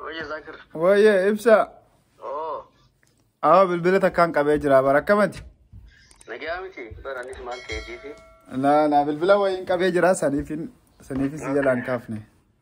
Oye, Zakir. Wayye ibsa. Oh, Awa bilbila takkaan qabee jira bara akkamati. nagaa miti. Bara anis maal ta'e jeefi. Na na bilbila wayiin qabee jira saniifin saniifin si jalaan kaafne.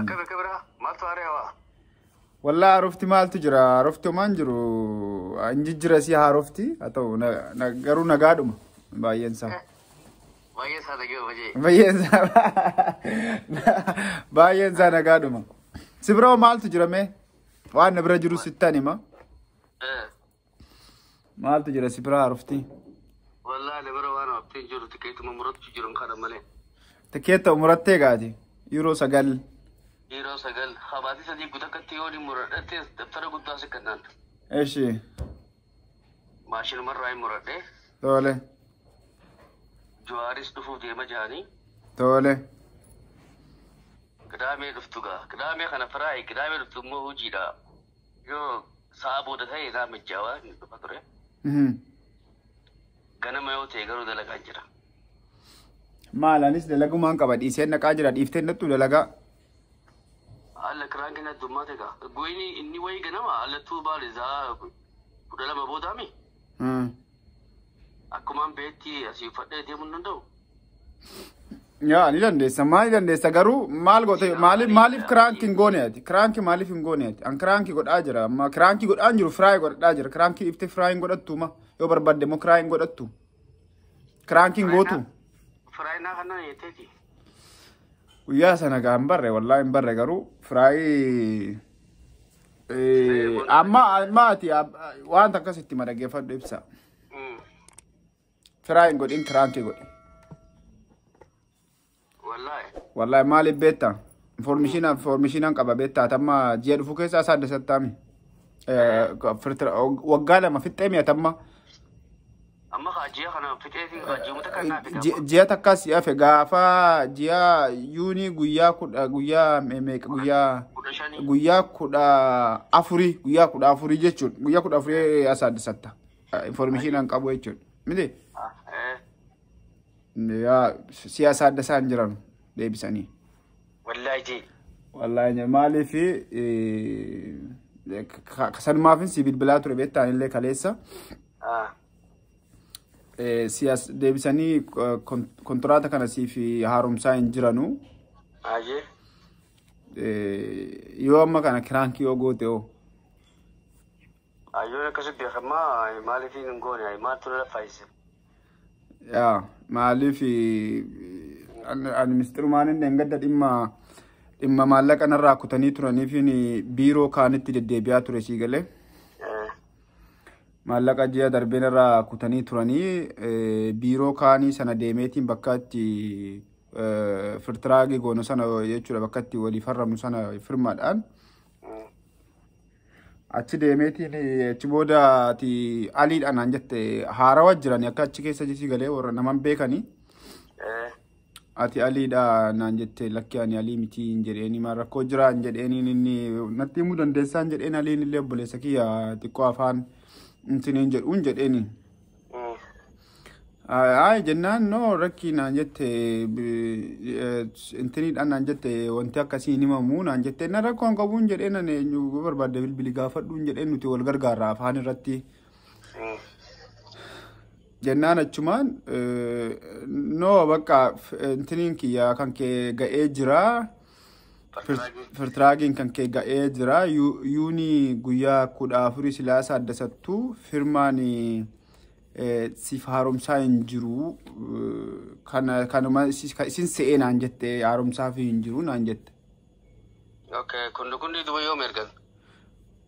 Akka bakka biraa maaltu haaree hawaa? Wallaa haarofti maaltu jira? Haarofti homaan jiru. Hin jijjira si haarofti. Haa ta'u na- na- garuu nagaadhuma baay'een isaa. Baay'ee isaa dhagee hojii. Baay'een isaa baay'een isaa nagaadhuma. Si biroo maaltu jira mee? Waan na bira jiru sittan hima. Maaltu jira si biraa rufti? Wallaahi na bira waan haftee hin jiru tikeetuma murachuu jiran kana malee. Tikeetta umurattee gaati. Yeroo sagal. Yeroo sagal habaatii sadii gutakatti yoo ni muradhatte dabtara guddaa si kannaan. Eshi. Maashinumarraa hin muradhe. Tole. Juwaaris dhufuuf deema jaanii. Tole. Qidaamee dhuftu gaa. Qidaamee kana firaa qidaamee dhuftu immoo hojiidha. Yoo sa'a booda ta'e egaa mijjaawaa hin dhufa ture. Mhm. Ganama yoo ta'e garuu dalagaan jira. Maal anis dalagumaan qaba dhiiseen naqaa jira dhiifteen nattu dalagaa. Alla kiraan kenna addummaa ta'e gaa. Goyni inni wayii ganama allattuu baal isaa kudha lama boodaami. Ah. Akkumaan beetti asii uffadhee deemuu hin danda'u. Yaa ni dandeessa maal ni dandeessa garuu maal goote maaliif maaliif kiraanki hin goone ati kiraanki maaliif hin goone ati an kiraanki godhaa jira amma kiraanki godhaan jiru firaayi godhaa jira kiraanki ifte firaayi hin godhattu ma yoo barbaadde immoo kiraayi hin godhattu kiraanki hin gootu Firaayinaa kanaan jetteeti. guyyaa sana gaa hin barre wallaahi hin barre garuu firaayi Eh, Amma amma ati ab- wanta akkas itti ma dhaggeeffadhu ibsa. Mm. Firaa hin godhin kiraankii godhi. Wallahi. Wallahi maaliif beekta? Informishiina informishiinaan qaba beekta ati amma ji'a dhufu keessa isaa adda sattaami. Waggaa lama fixxee mi'atamma. Amma kaa ji'a kana fixeeti kaa ji'uma takka naa fida amma. Ji'a takkaa si hafe gaafa ji'a yuunii guyyaa kudha guyyaa me- meeqa guyyaa Kudha shanii. guyyaa kudha afurii guyyaa kudha afurii jechuun guyyaa kudha afurii as aaddisatta informeeshinaan qabu jechuun miti Ah, eh. yaa siyaasa adda isaan jiran deebisanii. Wallaahi jee. Wallaahi nya- maaliif eh, ka- ka- sanumaafin si bilbilaa ture beektaan illee kaleessa. Siyaas deebisanii kontiraata kana siif haaromsaa hin jiranu. Baay'ee. Yoo amma kana kiraankii yoo goote hoo? Ayyoon akkasii beekamaa maaliif hin goone maaltu na fayyise? Yaa maaliif ani mistirumaan inni engadda dhimma dhimma maallaqa narraa kutanii turaniif biiroo kaanitti deddeebi'aa ture sii galee. maallaqa ji'a darbeen irraa kutanii turanii biiroo kaanii sana deemeetiin bakka itti firtiraagii goonu sana jechuudha bakka itti walii farramu sana firmaadhaan achi deemeetiin achi booda ati aliidhaan naan jette haarawa jirani akka achi keessa jisii galee warra naman beekanii. Ati Aliidha naan jette lakki ani Alii miti hin jedheeni maal rakkoo jira hin jedheeniin inni natti himuu dandeessaa hin jedheen Aliin illee obboleessa kiyya xiqqoo afaan intiniin jedhu hin jedheeni. Ayi jennaan noo rakkii naan jette intiniidhaan naan jette wanti akkasii hin himamu naan jette na rakkoon qabu hin jedheen ani eenyu barbaadde bilbili gaafadhu hin jedheen nuti wal gargaarra afaan irratti. jennaan achumaan no bakka intiniin kiyya kan kee ga'ee jira firtiraagiin kan kee ga'ee jira yuuni guyyaa kudha afurii silaasa adda sattuu firmaan siif haaromsaa hin jiru kanuma isin se'ee naan jette haaromsaa fi hin jiru naan jette Okay, kundugundi duba yoom ergan?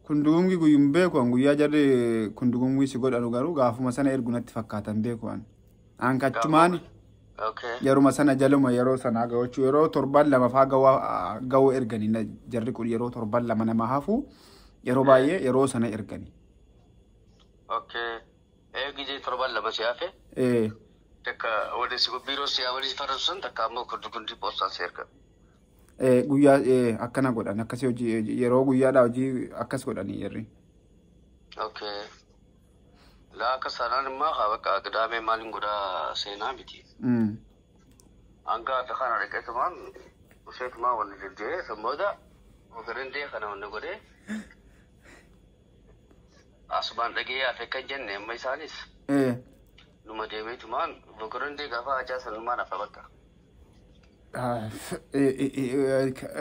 Kundugungi guyyuu hin beeku an guyyaa jarri kundugungi si godhanu garuu gaafuma sana ergu natti fakkaata hin beeku an. An kachumaan Okay. yeruma sana jaluma yeroo sana gawachuu yeroo torban lama faa gawa gawu ergani na- jarri kun yeroo torban lama nama hafu yeroo baay'ee yeroo sana ergani. Okay. Eegi jee torban lama si hafe. Eh, Takka waliin si biiroo si waliin farasusan takka ammoo kundugundi poostaan si ergan. Eh, Guyyaa eh, akkana godhan akkasii hojii yeroo guyyaadhaa hojii akkas godhanii yerri. Okay. Laa akka sanaan immoo haa bakka qidaamee maaliin godhaa seenaa miti. Mm. Hanga akka kana dhaqeetumaan usheetumaan wanni deddeebi'ee san booda ogarindee kana wanni godhee asumaan dhagee hafe kan jenne amma isaanis Eh, numa deemeetumaan ogarindee gaafa hajaa sanumaan hafa bakka.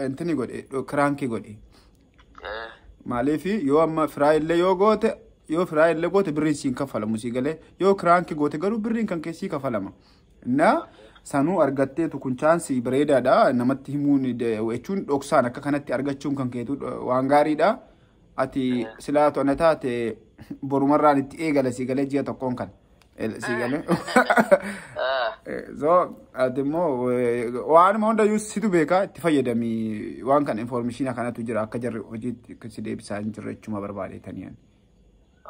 Intini godhe kiraankii godhe. Eh, Maaliif yoo amma firaa illee yoo goote yoo firaa illee goote birriin siin kaffalamu sii galee yoo kiraankii goote garuu birriin kan keessii kaffalama. Na sanuu argatteetu kun chaansii bareedaadha namatti himuun de- jechuun dhoksaan akka kanatti argachuun kan keetu dho- waan gaariidha. Ati silaatu ana taate borumarraan itti eegala sii galee ji'a tokkoon kan. Si galee. So ati immoo waanuma hundayyuu situ beekaa itti fayyadami waan kana infoormeeshinii kanatu jira akka jarri hojiitti akka si deebisaa hin jirre jechuma barbaadeetanii.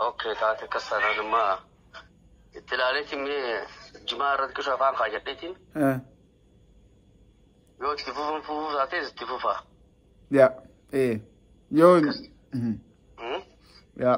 Okay taate akkas taanaan amma itti ilaaleetiin mee jimaa irratti qisha afaan kaayadheetiin yoo itti fufuun fufuu taatees itti fufaa. Yaa ee yoo Hmm? yaa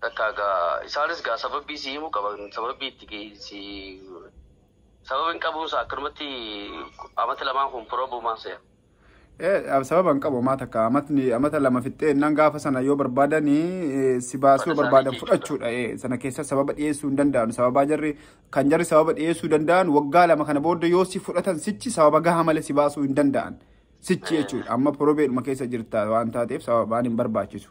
Takkaa gaa isaanis gaa sababbii sii himuu qaban sababbii itti gi- sii sababa hin qabuun isaa akkanumatti amata lamaan kun probumaa se'a. Eh, sababa hin qabu maata akka amatni amata lama fixxee innaan gaafa sana yoo barbaadan eh, si baasuu Mana yoo barbaadan isaanii jechuudha. fudhachuudha. Eh, sana keessa sababa dhiyeessuu hin danda'an. Sababaa jarri kan jarri sababa dhiyeessuu danda'an waggaa lama kana booda yoo si fudhatan sichi sababa gahaa malee si baasuu hin danda'an. Sichi jechuudha. Amma porobeedhuma keessa jirta waan taateef sababaan hin barbaachisu.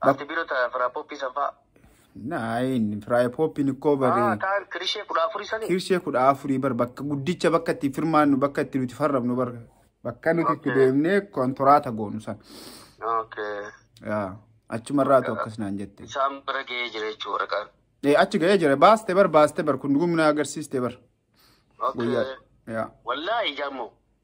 Ati bira ta fira poppi san fa. Naayin firaaya pooppiin ikkoo Ah, baree taan kirishee kudha afurii sanii. kirshee kudha afurii bar bakka guddicha bakka itti firmaannu bakka itti nuti farrabnu bar bakka nuti itti Okay. deemnee kontoraata goonu san. Okay. Yaa, Achumarraatu akkas naan jette. Isaan bira ga'ee jira jechuu waraqaan. Ee, Achi ga'ee jira baaste bar baaste bar kun dhugumna agarsiiste bar. Okay. Guyyaa. Yaa. Wallaahi jaammoo.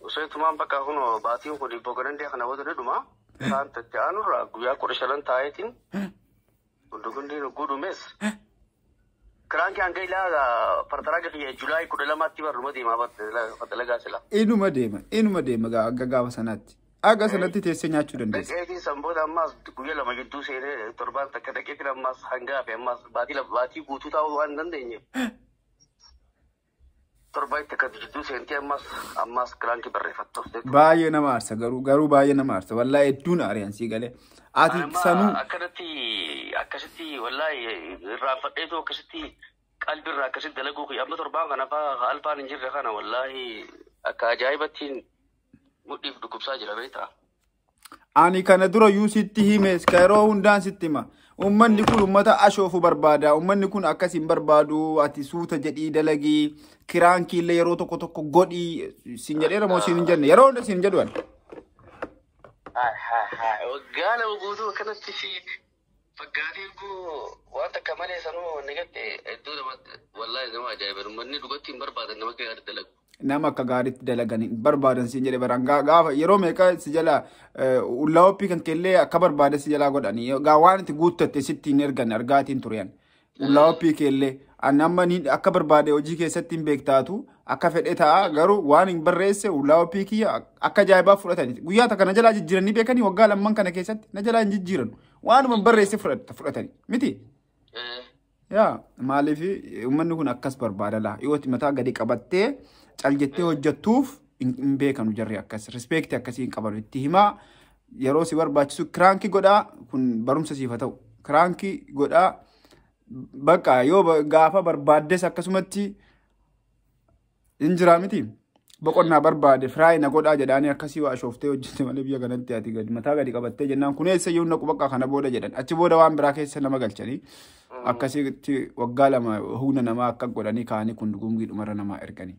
Usee tumaan bakka kun baatiin kun ibboo ganandee kana booda ni dhuma. Isaan itti aanurraa guyyaa kudha shanan taa'eetiin hundi hundi nugguu dhumees. Kiraan kiyaan gailaa partaraa kiyya Julaay kudha lamaatti barruma deemaa fatalagaa sila. Inuma deema inuma deema gaa- akka gaafa sanaatti. Akka sanatti teessee nyaachuu dandeessa. Dhaqeetiin san booda ammaas guyyaa lama gidduu seenee torbaan takka dhaqeetiin ammaas hangaa fi ammaas baatii lama baatii guutuu taa'uu waan hin dandeenye. Torbaa itti akkatti jidduu seentee ammas ammas kilaankii barreeffattu. Baay'ee nama aarsa garuu garuu baay'ee nama aarsa wallaa hedduun aari'an sii galee. Ati Anamma sanuu akkanatti akkasitti wallaahi irraanfadheetu akkasitti qalbirraa akkasitti dalaguu kiyya amma torbaan kana faa ka alfaan hin jirre kana wallaahi akka ajaa'ibattiin mudhiif dhukkubsaa jira beektaa. Ani kana dura yuu sitti himes ka yeroo hundaan sitti hima. Uummanni kun uummata ashoofu barbaada. Uummanni kun akkas hin barbaadu. Ati suuta jedhii dalagii. Kiraan kiillee yeroo tokko tokko godhii. Siin jedheera moo siin hin jenne? Yeroo hunda siin jedhu ani. Waggaa lama guutuu akkanatti si Gaaffiin koo waan takka malee sanuu wanni gatte hedduu namatti wallaahi nama ajaa'iba manni dubartii hin barbaadan nama akka gaariitti dalagu. Nama akka gaariitti dalagan hin barbaadan siin jedhe baraan Gaa- gaafa yeroo meeqa si jala ullaa oppii kan kellee akka barbaade si jalaa godhani gaa waan itti guuttatte sitti hin ergan argaatiin turean Qullaa oppii keellee ani amma ni akka barbaade hojii keessatti hin beektaatu akka fedhe ta'a garuu waan hin barreesse qullaa oppii kiyya akka ajaa'ibaa fudhatani guyyaa takka na jalaa jijjiiranii beekanii waggaa lamman kana keessatti na jalaa hin jijjiiran waanuma hin barreesse fudhat- fudhatani miti Eh, yaa maaliif uummanni kun akkas barbaada laa yoo itti mataa gadi qabattee cal jettee hojjettuuf hin hin beekanu jarri akkas rispeekti akkasii hin qabanu itti himaa yeroo si barbaachisu kiraanki godhaa kun barumsa siif haa ta'u kiraanki godhaa bakka yoo gaafa barbaaddes akkasumatti hin jiraa miti boqonnaa barbaade firaay na godhaa jedhaanii akkasii waa shooftee hojjette malee biyya kanatti ati gadi mataa gadi qabattee jennaan kun eessa yoo naqu bakka kana booda jedhan achi booda waan biraa keessa nama galchanii akkasitti waggaa lama humna namaa akka godhanii kaanii kun gumgii dhumarra namaa erganii.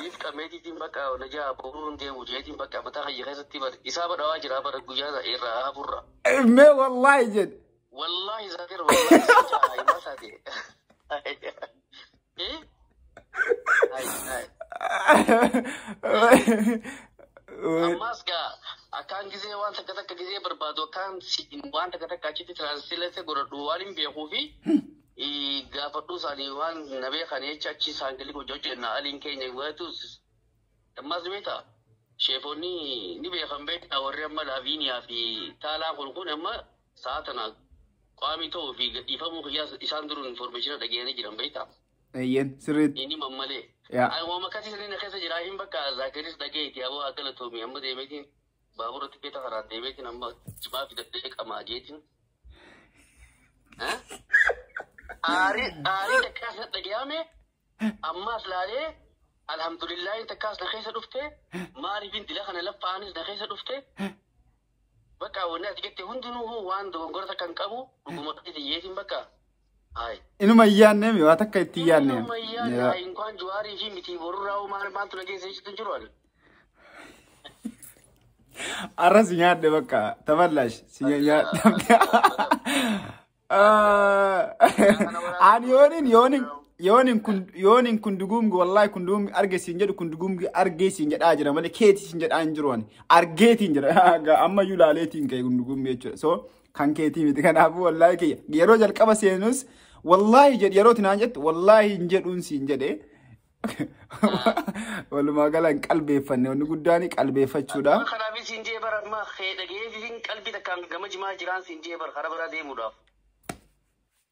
Live qameetiitiin bakka na jaha boruu hin deemu jeetiin bakka mataa kiyya keessatti bar isaa badhawaa jira bar guyyaa sana irraa haburra. Mee wallaahi jedhe. Wallaahi zaakir wallaahi si jaha himaa taate. Eh? Hai, hai. Ammas gaa akkaan gisee waan takka takka gisee barbaadu akkaan si- waan takka takka achitti translate godhadhu waan hin beekuu fi gaafadhuu isaanii waan na beekan jecha achi isaan galii hojii hojjenna aliin keenya waatuus ammas beeta sheefonni ni beekan beekna warri amma laaviiniyaa fi taalaa kun kun amma sa'a tana qaamii ta'uu fi gadhiifamuu kiyyaa isaan duruu informeeshina dhageenyanii jiran beekta. Eeyyeen sirriitti. Inni mammalee. Yaa. Waan akkasii sirriin keessa jira hin bakka zaakiris dhageeti aboo haa galatoomii amma deemeetiin. Baabura tikeeta karaan deemeetiin amma cimaa fidadhee qamaa jeetiin. Aarii aarii takkaas na dhagayaame ammaas laalee alhamdulillaahi takkaas na keessa dhufte maaliifin dila kana laffaanis na keessa dhufte bakka wanni ati jette hundinuu waan dogongora takka hin qabu dhuguma dhiyyeetiin bakka Ayi. Inuma hin yaadne mi waa takka itti hin yaadne. Inuma hin yaadne. Ayi inkwaan Juwaarii fi mitii borurraa hoo maal maaltu na keessa jechuutu jiru ani. Arra si nyaadhe bakka taballash si nyaadhe. Ani yoonin yoonin yoonin kun yoonin kun duguumgi wallahi kun duguumgi arge siin jedhu kun duguumgi argee siin jedhaa jira malee keeti siin jedhaa hin jiru ani argeetiin jira amma iyyuu laaleetiin ka'e kun duguumgi jechuudha so Kan keetii miti kanaafuu wallaahi kiyya. Yeroo jalqaba seenus wallaahi jedhi yeroo tinaan jettu wallaahi hin jedhuun siin jedhe. Walumaa gala hin qalbeeffanne wanni guddaan qalbeeffachuudha. Amma kanaaf siin jee bara amma kee dhageetiin qalbii takkaan gama jimaa jiraan siin jee bara karaa biraa deemuudhaaf.